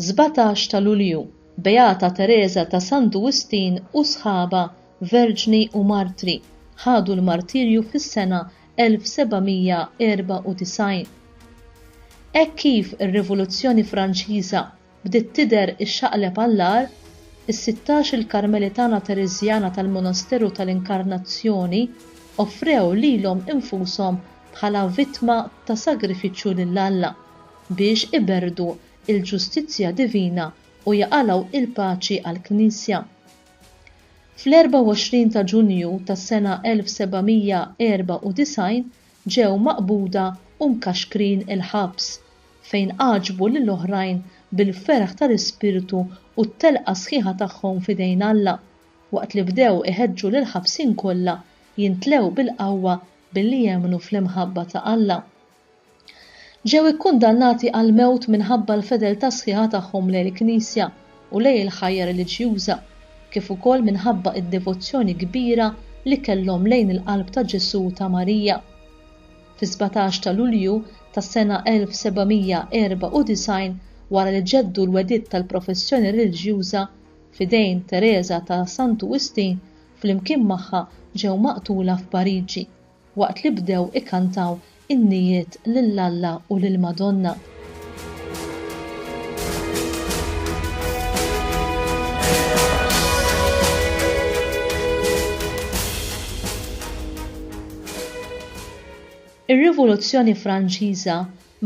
17 ta' Lulju, Beata Teresa ta' San Duwistin u sħaba Verġni u Martri ħadu l-martirju fis-sena 1794. Hekk kif ir-Rivoluzzjoni Franċiża bdiet tidher ixxaqleb għall-agħar, is-sittax-il Karmelitana Tereżjana tal-Monasteru tal-Inkarnazzjoni offrew lilhom infushom bħala vittma ta' sagrifiċċju lil Alla biex iberrdu l-ġustizzja divina u jaqalgħu l-paċi għall-Knisja. Fl-24 ta' Ġunju tas-sena 1794 ġew maqbuda u mkaxkrin il-ħabs, fejn għaġbu lil oħrajn bil-ferħ tal-ispirtu u t-telqa sħiħa tagħhom f'idejn Alla, waqt li bdew iħeġġu lill-ħabsin kollha jintlew bil-qawwa billi jemmnu fl-imħabba ta' Alla. Ġew ikkundannati għall-mewt minħabba l-fedeltà sħiħa tagħhom lejn il-Knisja u lejn il-ħajja reliġjuża, kif ukoll minħabba d-devozzjoni kbira li kellhom lejn il-qalb ta' Ġesù u ta' Marija. Fis-sbatax ta' Lulju tas-sena 1794, wara li ġeddu l-wegħdiet tal-professjoni reliġjuża f'idejn Tereża ta' Santu Wistin, flimkien magħha ġew maqtula f'Pariġi. waqt li bdew ikantaw innijiet lil Alla u lill-Madonna. Ir-Rivoluzzjoni Franċiża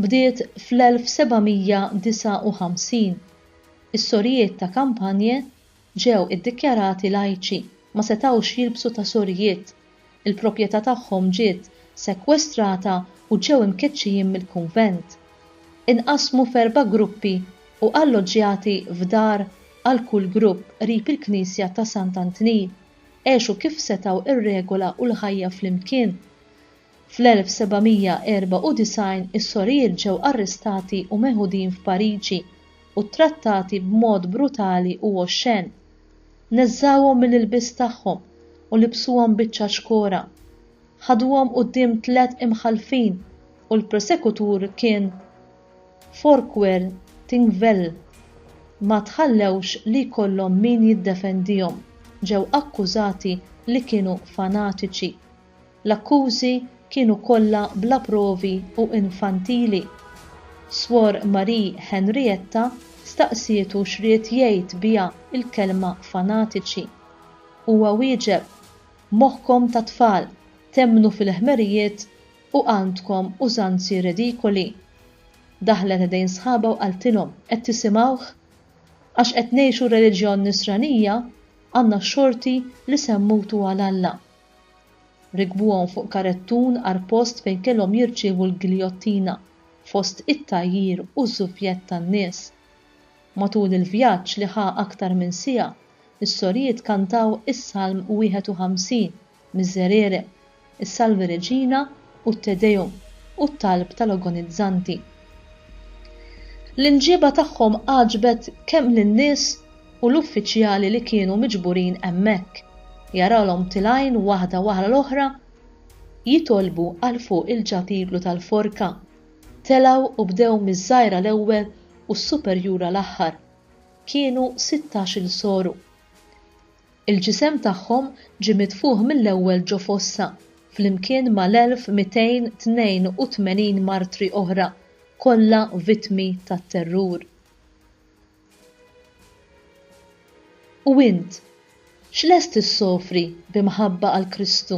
bdiet fl-1759. Is-sorijiet ta' Campagne ġew iddikjarati lajċi, ma setgħux jilbsu tasorijiet, il-proprjetà tagħhom ġiet sekwestrata u ġew imkeċċijin mill-kunvent. Inqasmu f'erba' gruppi u alloġġjati f'dar għal kull grupp qrib il-knisja ta' Sant'Antnil, għexu kif setgħu r-regola u l-ħajja flimkien. Fl-1794 is-sorijiet ġew arrestati u meħudin f'Pariġi u ttrattati b'mod brutali u oxxen. Neżżgħuhom mill-ilbies tagħhom u libsuhom biċċa xkora. Ħaduhom quddiem tliet imħallfin u l-prosekutur kien Forquer Thingvelll. Ma tħallewx li jkollhom min jiddefendihom. Ġew akkużati li kienu fanatiċi. L-akkużi kienu kollha bla provi u infantili. Swor Marie Henrietta staqsietu x'ried jgħid biha l-kelma fanatiċi. Huwa wieġeb, Moħħkom ta' tfal, temmnu fil-ħmerijiet u għandkom użanzi redikoli. Daħlet ħdejn sħabha u qaltilhom, Qed tisimgħuh? Għax qed ngħixu r-reliġjon Nisranija, għandna x-xorti li semmutu għal Alla. Rekbuhom fuq karettun għar post fejn kellhom jirċievu l-giljottina, fost it-tgħajjir u ż-żuvjett tan-nies. Matul il-vjaġġ li ħa aktar minn siegħa, is-sorijiet kantaw is-Salm 51, Miserere, is-Salve Regina, u t-Te Deum u t-talb tal-ogonizzanti. L-imġieba tagħhom għaġbet kemm lin-nies u l-uffiċjali li kienu miġburin hemmhekk, jarawlhom tilgħin waħda wara l-oħra jitolbu għal fuq il-ġatiglu tal-forka, telgħu u bdew miż-żgħira l-ewwel u s-superjura l-aħħar. Kienu sittax-il soru. Il-ġisem tagħhom ġie mitfugħ mill-ewwel ġo fossa, flimkien mal-1,282 martri oħra, kollha vittmi tat-terrur. U int, x'lest issofri b'imħabba għal Kristu?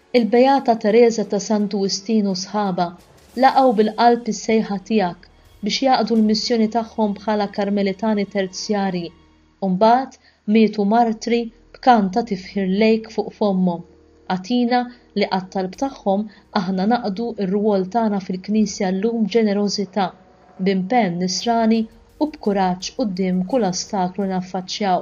Il-Beata Tereża ta' Santu Wistin u sħabha laqgħu bil-qalb is-sejħa tiegħek biex jaqdu l-missjoni tagħhom bħala Karmelitani Terzjarji u mbagħad mietu martri b'kant ta' tifħir lejk fuq fommhom. Agħtina li għat-talb tagħhom aħna naqdu r-rwol tagħna fil-Knisja llum b'ġenerożità, b'impenn nisrani u b'kuraġġ quddiem kull ostaklu li naffaċċjaw.